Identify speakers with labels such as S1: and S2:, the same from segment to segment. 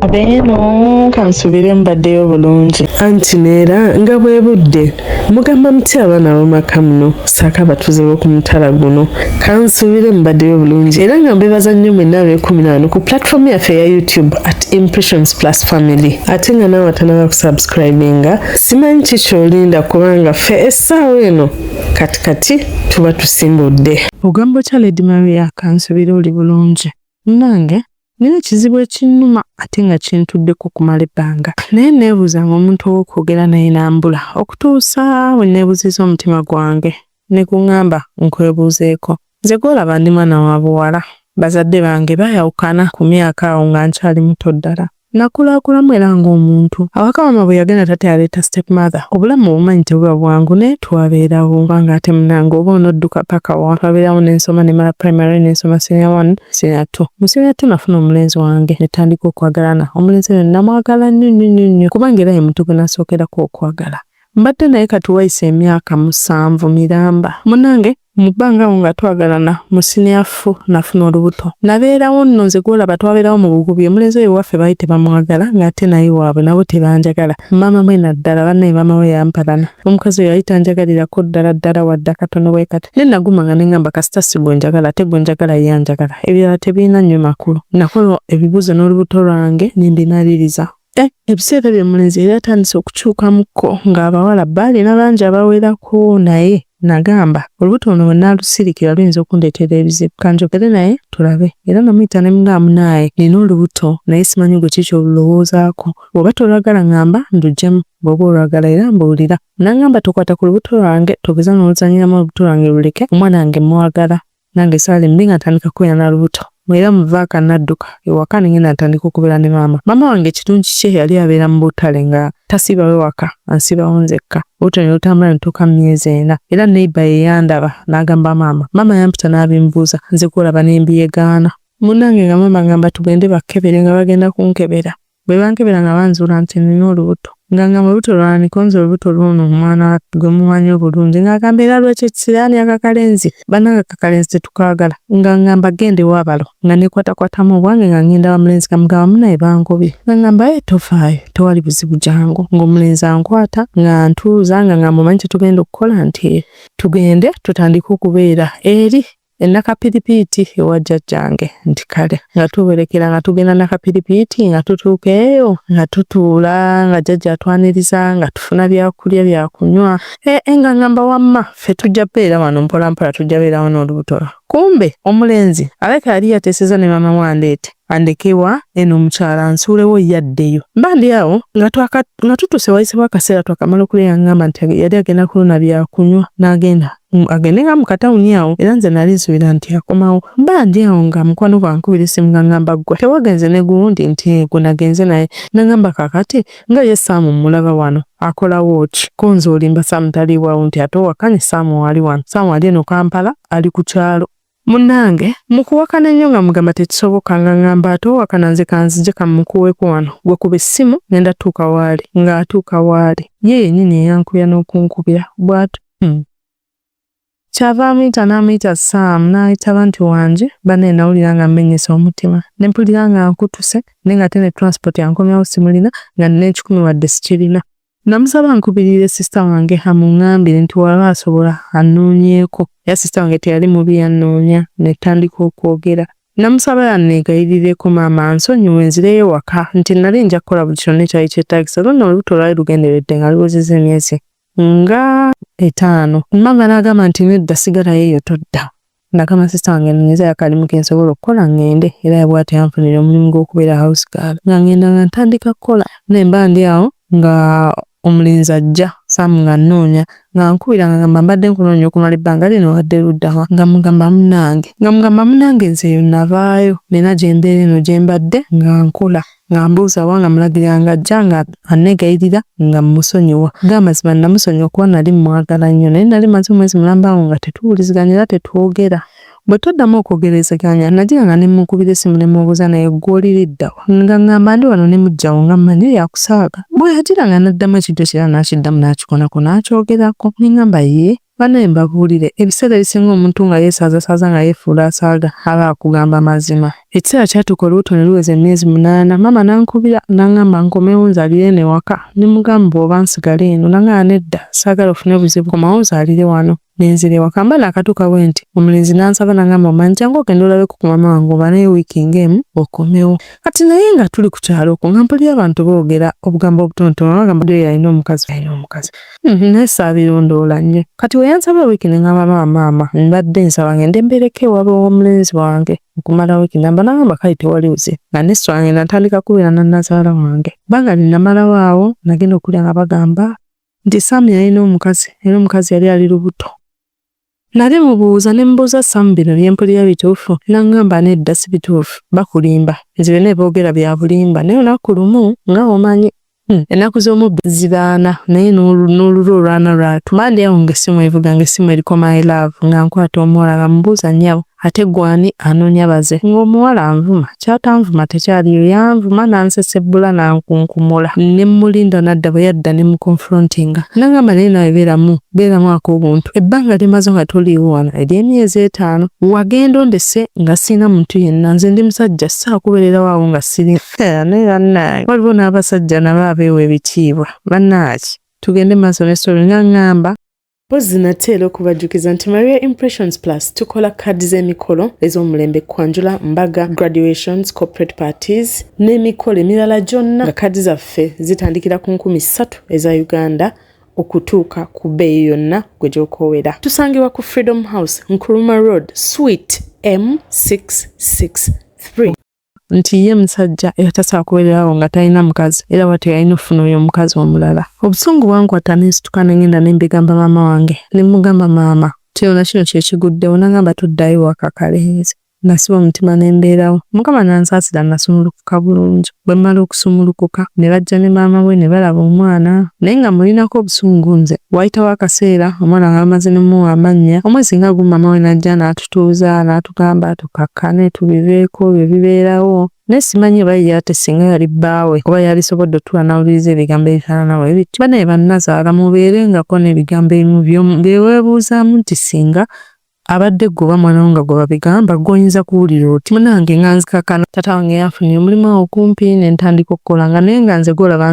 S1: abeeno kansubire mbaddeyo bulungi anti neera
S2: nga bwe budde mugamba muti abaana bamaka muno saako abatuuze b'oku mutala guno kansubire mbaddeyo bulungi era nga mbebaza nnyo mwenna ab'ekumi naano ku platform yaffe eya youtube at impressions plus family ate nga naawe atanaba kusubscribinga simanyi ki kyolinda kubanga ffe essaawa eno kati kati tuba tusimbudde ogamba otya lady maria kansubira oli bulungi munange nina ekizibu ekinnuma ate nga kintuddeko okumala ebbanga naye neebuuza nga omuntu ow'okwogera naye nambula okutuusa we neebuziza omutima gwange ne gungamba nkwebuuzeeko Nze gwolaba ndi mwana wa buwala. Bazadde bange baayawukana ku myaka awo nga nkyali muto ddala. Nakulakulamu era ng'omuntu. Awaka maama bwe yagenda taata yaleeta step mother. Obulamu obumanyi tebuba bwangu naye twabeerawo kubanga ate munange oba onodduka paka wa. Twabeerawo ne nsoma ne mala primary ne nsoma senior one, senior two. Mu senior two nafuna omulenzi wange ne tutandika okwagalana. Omulenzi oyo namwagala nnyo nnyo nnyo nnyo kubanga era ye muntu gwe nasookerako okwagala. Mbadde naye kati wayise emyaka musanvu miramba munange. Mu bbanga awo nga twagalana mu siniya fo nafuna olubuto nabeerawo nno nze gwolaba twabeerawo mu bugubi omulenzi oyo ewaffe baali tebamwagala ng'ate naye waabwe nabo tebanjagala maama mwe naddala bannaye maama we yampalana omukazi oyo yali tanjagalirako ddala ddala wadde akatono bwe kati ne naguma nga nengamba kasita si gwe njagala ate gwe njagala ye anjagala ebirala tebirina nnyo makulu nakola ebibuuzo n'olubuto lwange ne mbinaliriza Eh, ebiseera bye mulenzi yali atandise okukyukamukko ng'abawala baalina bangi abawerako naye nagamba olubuto luno bwe naalusirikira luyinza okundeetera ebizibu kanjogere naye tulabe era namuyita ne mugamba munaaye nina olubuto naye simanyi gwe kiki olulowoozaako bw'oba tolwagala ngamba ndujjemu bw'oba olwagala era mbuulira nangamba tokwata ku lubuto lwange togeza n'oluzanyiramu olubuto lwange luleke omwana wange mwagala nange saali mbi nga ntandika kubeera na lubuto era muvaaka nadduka ewaka ne ngenda ntandika okubeera ne maama maama wange ekirungi kye yali abeera mu butale nga tasiibawe waka ansiibawo nzekka olubuto ne lutambula ne tuuka mu myezi ena era neiba ye yandaba n'agamba maama maama yampita n'abimbuuza nze gwolaba ne mbiyegaana munnange nga maama ngamba tugende bakkebere nga bagenda kunkebera Bwe bankebera nga banzuula nti nnina olubuto. Nga ngamba olubuto lwani konze olubuto lw'ono omwana gwe mumanyi obulungi nga agamba era lwekyo ekisiraani akakalenzi bannange akakalenzi tetukaagala nga ngamba genda ewa balo nga nekwatakwatamu obwange nga ngenda wa mulenzi nga mugamba munaye bangobye nga ngamba ye tofaayo tewali buzibu jangu ng'omulenzi ankwata nga ntuuza nga ngamba omanyi kyetugenda okukola nti tugende tutandike okubeera eri e Nakapiripiiti ewa jjajjange nti kale nga tuwerekera nga tugenda Nakapiripiiti nga tutuuka eyo nga tutuula nga jjajja atwaniriza nga tufuna byakulya byakunywa ee eh, eh, nga ngamba wamma ffe tujja beera wano mpolampola tujja beera wano olubuto lwa kumbe omulenzi alabika yali yateeseza ne maama wandeete andekewa eno omukyala nsuulewo yaddeyo mbandi awo nga tutuuse wayisibwa akaseera twakamala okulya yangamba nti yali agenda kulona byakunywa n'agenda mm, agende nga mu katawuni awo era nze nali nsubira nti akomawo bba ndi awo nga mukwano gwankubira essimu nga ngamba ggwe tewagenze ne gundi nti gwe nagenze naye nangamba kakati nga ye saamu mmulaba wano akolawo ki kunze olimba saamu taliiwawo nti ate owakanye saamu waali wano saamu ali eno kampala ali ku kyalo Munange mukuwakana nnyo nga mugamba tekisoboka nga ngamba ate owakana nze kanzije kamukuweko wano gwe kuba essimu ngenda tuuka waali nga atuuka waali ye yenyini eyankubya n'okunkubya bwatu hmm. kyava amuyita n'amuyita saamu n'ayitaba nti wange banaye nawulira nga mmenyese omutima ne mpulira nga nkutuse naye nga ate ne transport yankomyawo simulina nga nina ekikumi wadde sikirina Namusaba nkubirire sisita wange amungambire nti waba asobola annoonyeeko era sisita wange teyali mubi yannoonya ne ttandika okwogera. Namusaba yanneegayirireko maama ansonyiwe nzireyo ewaka nti nali nja kukola buli kyonna ekyali kyetaagisa era nno olubuto lwali lugenderedde nga luwezezza emyezi nga etaano. Maama n'agamba nti nedda sigalayo eyo todda. Nakama sista wange nonyeza yakalimu kensobola okukola ngende era yabwati yanfunira omulimu gw'okubeera house girl nga ngenda nga ntandika kukola naye mba ndi awo nga omulenzi ajja saamu nga nnoonya nga nkubira nga ngamba mbadde nkunoonya okumala ebbanga lino wadde luddawa nga mugamba munange nga mugamba munange nze eyo navaayo nina gyembeera eno gyembadde nga nkola nga mbuuza wa nga mulagirira nga ajja nga anneegayirira nga mmusonyiwa ga mazima nnamusonyiwa kuba nali mmwagala nnyo naye nali maze omwezi mulamba awo nga tetuwuliziganya era tetwogera bwe tuddamu okwogerezeganya nagira nga ne mmunkubira essimu ne mubuuza naye ggwe oliriddawa nga ngamba ndi wano ne mujjawo nga mmanyi yakusaaga bwe yagira nga n'addamu ekijjo kira n'akiddamu n'akikonako n'akyogerako ne ngamba yee Banaye mbabuulire, ebiseera ebisinga omuntu nga yeesaazasaaza nga yeefuula asaaga, aba akugamba mazima. Ekiseera kyatuuka olubuto ne luweza emyezi munaana, maama n'ankubira n'angamba nkomewo nzaalire eno ewaka ne mugamba oba nsigale eno n'angamba nedda saagala ofune buzibu komawo ozaalire wano. Ne nzira ewaka mba naakatuuka bwenti, omulenzi n'ansaba n'angamba omanyi jangu ogende olabeko ku maama wange obanaye wiiki ng'emu okomewo. Kati naye nga tuli ku kyalo okwo nga mpulira abantu boogera obugambo obutonotono nga bagamba Joy alina omukazi. Mhm, naye saabirondoola nnyo kati we yansaba wiiki ne ngamba maama maama mbadde nsaba ngende mbeereko ewaabwe w'omulenzi wange okumala wiiki namba nagamba kale tewali buze nga ne swa ngenda ntandika kubeera na nazaala wange banga lye namalawo awo nagenda okulya nga bagamba nti saamu yalina omukazi era omukazi yali ali lubuto Nali mubuuza ne mbuuza Sam bino bye mpulira bituufu n'angamba nedda si bituufu bakulimba nze byonna bye boogera bya bulimba naye olunaku lumu nga omanyi hmm, ennaku z'omubbi zibaana naye n'olulwo olwana lwatu mandi awo ng'essimu evuga ng'essimu eriko my love nga nkwata omuwala nga mubuuza nnyabo Ate gwe ani anonya baze ng'omuwala anvuma kyatanvuma tekyaliyo yanvuma nansesebbula nankunkumula ne mulinda nadda bwe yadda ne mukonfrontinga nangamba naye nawe beeramu beeramu ak'obuntu ebbanga lyemaze nga toliiwo wano ery'emyezi etaano wagenda ondese nga sirina muntu yenna nze ndi musajja saakubeererawo awo nga siri naye bannange waliwo n'abasajja nabo abeewa ebitiibwa bannaaki tugende maaso ne solo nga ngamba Mpozzi nate era okubajjukiza nti Maria Impressions Plus tukola kaadi z'emikolo ez'omulembe kwanjula, mbaga, graduations, corporate parties n'emikolo emirala gyonna nga kaadi zaffe zitandikira ku nkumi ssatu eza Uganda okutuuka ku bbeeyi yonna gwe gy'okoowera. Tusangibwa ku Freedom House, Nkuruma Road, Suite M663. nti ye musajja era tasobola kubeererawo nga talina mukazi era bwatyo yalina okufuna oyo omukazi omulala obusungu bwankwata nensituka nengenda nembigamba maama wange nemugamba maama kino na kino kyekiguddewo nangamba tuddayo waka kalenzi nasiba omutima nembeerawo mukama nansaasira nasumulukuka bulungi bwe mmala okusumulukuka ne bajja ne maama we ne balaba omwana naye nga mulinako obusungu nze waayitawo akaseera omwana nga bamaze nemuwa amannya omwezi nga gumu maama we n'ajja n'atu tutuuza n'atugamba tukakkane tubiveeko bye bibeerawo naye simanyi oba ye ate singa yali bbaawe oba yalisobodde otuula n'awuliriza ebigambo ebifaanana bwe bityo banaye bannazaala mubeerengako n'ebigambo ebimu byomu beweebuuzaamu nti singa abadde gwe oba mwana wo nga gwe babigamba gwoyinza kuwulira oti munange nga nzikakana tata wange yafunira omulimu awo okumpi ne ntandika okukola nga naye nga nze golaba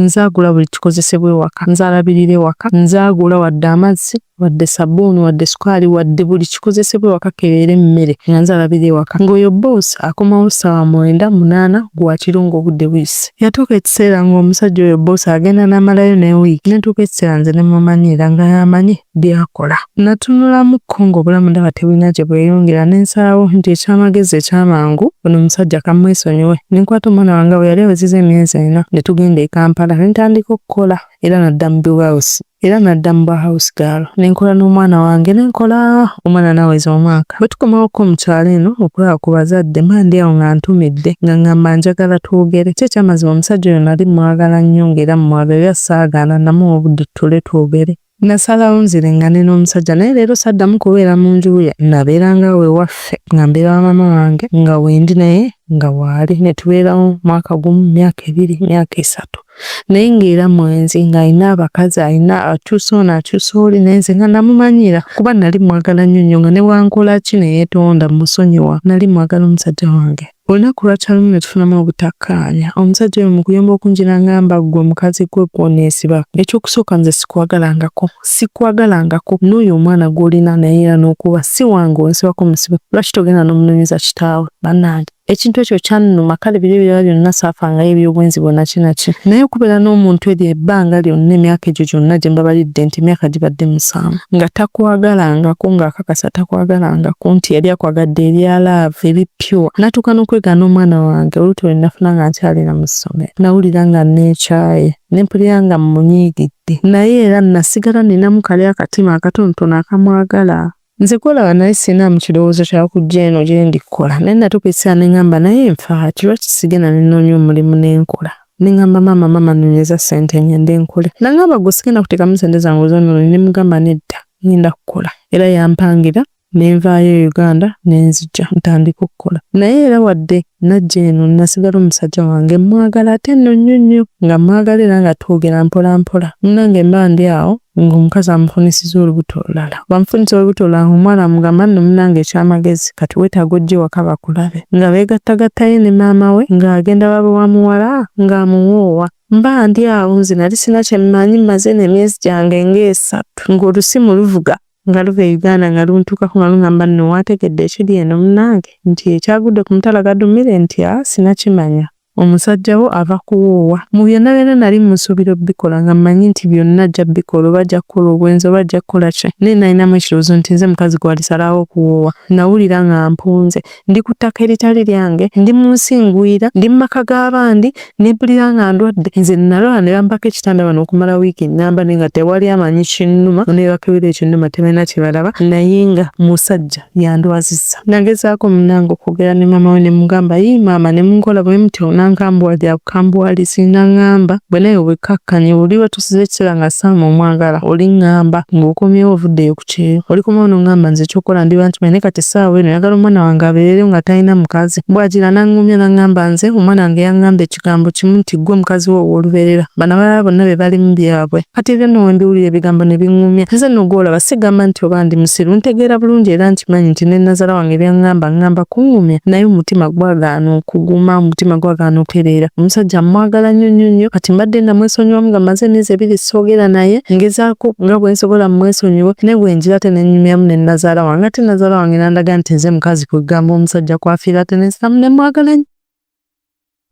S2: nzaagula buli kikozesebwa ewaka nzalabirira ewaka nzaagula wadde amazzi wadde sabbuuni wadde sukaali wadde buli kikozesebwa ewaka kebeere emmere nga nze alabira ewaka ng'oyo bboosi akomawo ssaawa mwenda munaana gwakiro ng'obudde buyise yatuuka ekiseera ng'omusajja oyo bboosi agenda n'amalayo ne wiiki netuuka ekiseera nze ne mumanyiira nga yamanyi byakola natunulamuko ng'obulamu ndaba tebulina gye bweyongera ne nsalawo nti ekyamagezi ekyamangu ono omusajja kamwesonyiwe ne nkwata omwana wange bwe yali aweziza emyezi ena ne tugenda e kampala ne ntandika okukola era nadda mu biwausi era nadda mu bwa house girl ne nkola n'omwana wange ne nkola omwana naweza omwaka bwe tukomawokko mu kyalo eno okulaba ku bazadde mandi awo nga ntumidde nga ngamba njagala twogere kyo ekyamazima omusajja oyo nali mwagala nnyo ng'era mumwagala era saagaana namuwa obudde tutuule twogere Nasalawo nzirengane n'omusajja naye leero saddamu kubeera mu nju ye nabeeranga awo ewaffe nga mbeera wa maama wange nga wendi naye nga waali ne tubeerawo mwaka gumu myaka ebiri myaka esatu naye ng'era mwenzi ng'alina abakazi alina akyusa ono akyusa oli naye nze nga namumanyira kuba nali mwagala nnyo nnyo nga newankola ki neyetonda musonyiwa nali mwagala omusajja wange olunaku lwakyalumu ne tufunamu obutakkaanya omusajja oyo mu kuyomba okunjira ngamba ggwe omukazi gwe gwoneesiba ekyokusooka nze sikwagalangako sikwagalangako n'oyo omwana gw'olina naye era n'okuba si wange onsibako musibe lwaki togenda n'omunoonyeza kitaawe bannange ekintu ekyo kyannuma kale biri ebirala byonna saafangayo eby'obwenzi bwonna kinaki naye okubeera n'omuntu eryo ebbanga lyonna emyaka egyo gyonna gye mbabalidde nti emyaka gibadde musanvu nga takwagalangako ng'akakasa takwagalangako nti yali akwagadde erya laavu eri pure natuuka n'okwegaana omwana wange oluuto lwe nafuna nga nkyalira mu ssomero nawulira nga neekyaye ne mpulira nga mmunyiigidde naye era nasigala ninamu kali akatima akatonotono akamwagala Nze kulaba naye sinaamu kirowoozo kya kujja eno gye ndi kukola naye natuuka ekiseera ne ngamba naye nfa ki lwaki sigenda ne nnoonya omulimu ne nkola ne ngamba maama maama nonyeza ssente ngende nkole nangamba gwe sigenda kuteekamu ssente zange ozonoone ne mugamba nedda ngenda kukola era yampangira ne
S1: nvaayo e Uganda ne nzija ntandike okukola naye era wadde Najja eno nnasigala omusajja wange mmwagala ate nno nnyo nnyo nga mmwagala era nga twogera mpola mpola. Munnange mba ndi awo ng'omukazi amufunisizza olubuto olulala. Bw'amufunisa olubuto olulala ng'omuwala amugamba nno munnange eky'amagezi kati weetaaga ojje ewaka bakulabe. Nga beegattagatta ye ne maama we ng'agenda babe wa muwala ng'amuwoowa. Mba ndi awo nze nali sirina kye mmanyi mmaze eno emyezi gyange ng'esatu ng'olusimu luvuga. nga luva e Uganda nga luntuukako nga lungamba nno wategedde ekiri eno munange nti ekyagudde ku mutala gadumire nti a sinakimanya omusajja wo ava kuwoowa mu byonna byonna nali musuubira obikola nga mmanyi nti byonna ajja bikola oba ajja kukola obwenzi oba ajja kukola ki naye nalinamu ekirowoozo nti nze mukazi gwalisalawo okuwoowa nawulira nga mpunze ndi ku ttaka eritali lyange ndi mu nsi ngwira ndi mu maka g'abandi ne mpulira nga ndwadde nze nalwala ne bampako ekitanda bano okumala wiiki nnamba naye nga tewali amanyi kinnuma ne bakebera ekinnuma tebalina kye balaba naye nga musajja yandwazizza nagezaako munange okwogera ne maama we ne mugamba yi maama ne munkola bwe muti onankambwa lya bukambwalizi nangamba bwe naye obwekkakkanye oli wetusiza ekiseera nga saama omwagala oli ngamba ng'okomyewo ovuddeyo ku nti oli kumwe onongamba nze ekyokukola ndi bantu naye kati essaawa eno yagala omwana wange abeereyo nga talina mukazi bw'agira n'aŋŋumya n'aŋŋamba nze omwana wange yaŋŋamba ekigambo kimu nti ggwe mukazi we ow'olubeerera bano abalala bonna be bali mu byabwe kati ebyo nno we mbiwulira ebigambo ne biŋŋumya nze nno gw'olaba sigamba nti oba ndi musiru ntegeera bulungi era nkimanyi nti ne nazala wange by'aŋŋamba aŋŋamba kuŋŋumya naye omutima gwagaana okuguma omutima gwagaana okutereera omusajja mmwagala nnyo nnyo nnyo kati mbadde namwesonyiwamu nga maze emyezi ebiri soogera naye ngezaako ku nga bwe nsobola mmwesonyiwe ne bwe njira ate ne nnyumyamu ne nnazaala wange ate nnazaala wange n'andaga nti nze mukazi kwe ggamba omusajja kwafiira ate ne nsitamu ne mwagala nnyo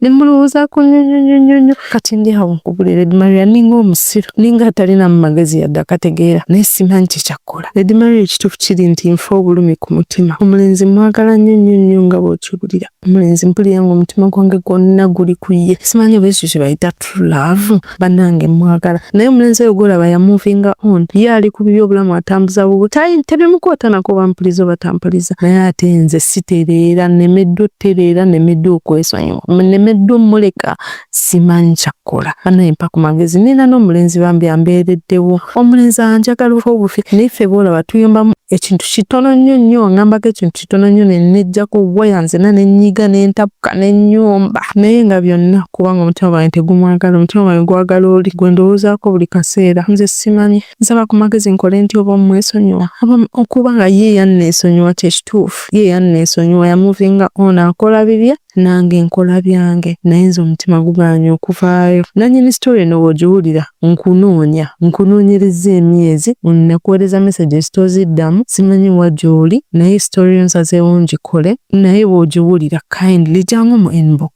S1: ne mulowoozaako nnyo nnyo nnyo nnyo nnyo kati ndi awo nkubulira Lady Maria ninga omusiru ninga atalina mu magezi yadde akategeera naye simanyi kye kyakkola Lady Maria ekituufu kiri nti nfa obulumi ku mutima omulenzi mwagala nnyo nnyo nnyo nga bw'okiwulira omulenzi mpulira nga omutima gwange gwonna guli ku ye simanyi oba ekyo kye bayita true love bannange mwagala naye omulenzi oyo gwolaba yamuvinga on ye ali ku bibi obulamu atambuza bubwe tayi tebimukwootanako oba mpuliza oba tampuliza naye ate nze sitereera nemeddwa otereera nemeddwa okwesonyiwa nemeddwa omuleka simanyi kyakkola banaye mpa ku magezi nina n'omulenzi bambi ambeereddewo omulenzi anjagala olw'obufi naye ffe boolaba tuyombamu ekintu kitono nnyo nnyo ngambako ekintu kitono nnyo ne nejjako waya nzena ne nnyiga ne ntapuka ne nnyomba naye nga byonna kubanga omutima gwange tegumwagala omutima gwange gwagala oli gwe ndowoozaako buli kaseera nze simanyi nsaba ku magezi nkole nti oba omwesonyiwa oba okuba nga ye yanneesonyiwa kye kituufu ye yanneesonyiwa yamuvinga ono akola bibye Nange nkola byange naye nze omutima gugaanye okuvaayo. Nanyini story eno wogiwulira nkunoonya nkunoonyerezza emyezi nakuwereza messages toziddamu simanyi wa gyoli naye story yo nsazeewo ngikole naye bwogiwulira kindly jangu mu inbox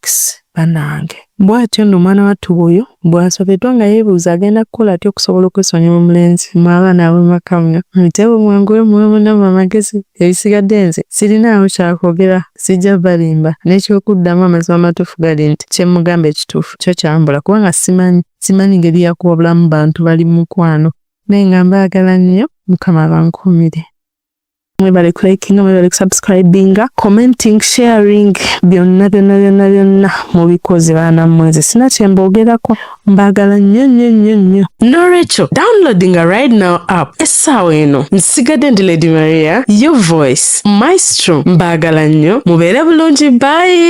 S1: banange. Bw'atyo nno omwana wattu bw'oyo bw'asobeddwa nga yeebuuza agenda kukola atya okusobola okwesonyiwa omulenzi mmwe abaana ab'amaka mmwe. Muteewo mwanguwe muwe munnammwe amagezi, ebisigadde nze sirinaawo kya kwogera, sijja balimba. N'eky'okuddamu amazima amatuufu gali nti kye mmugamba ekituufu kyo kyambula kubanga ssimanyi, ssimanyi ngeri ya kuwabulamu bantu bali mu mukwano. Naye nga mbaagala nnyo, Mukama abankuumire. mwebale kulikinga mwebale kusubscribinga commenting sharing byonna byonna byonna byonna mubikoze baana mweze sina kyembogerako mbagala nnyo nnyo nnyo nnyo nolwekyo downloadinga right now app essaawa eno nsigadde ndi lady maria your voice maestro mbagala nnyo mubeere bulungi bayi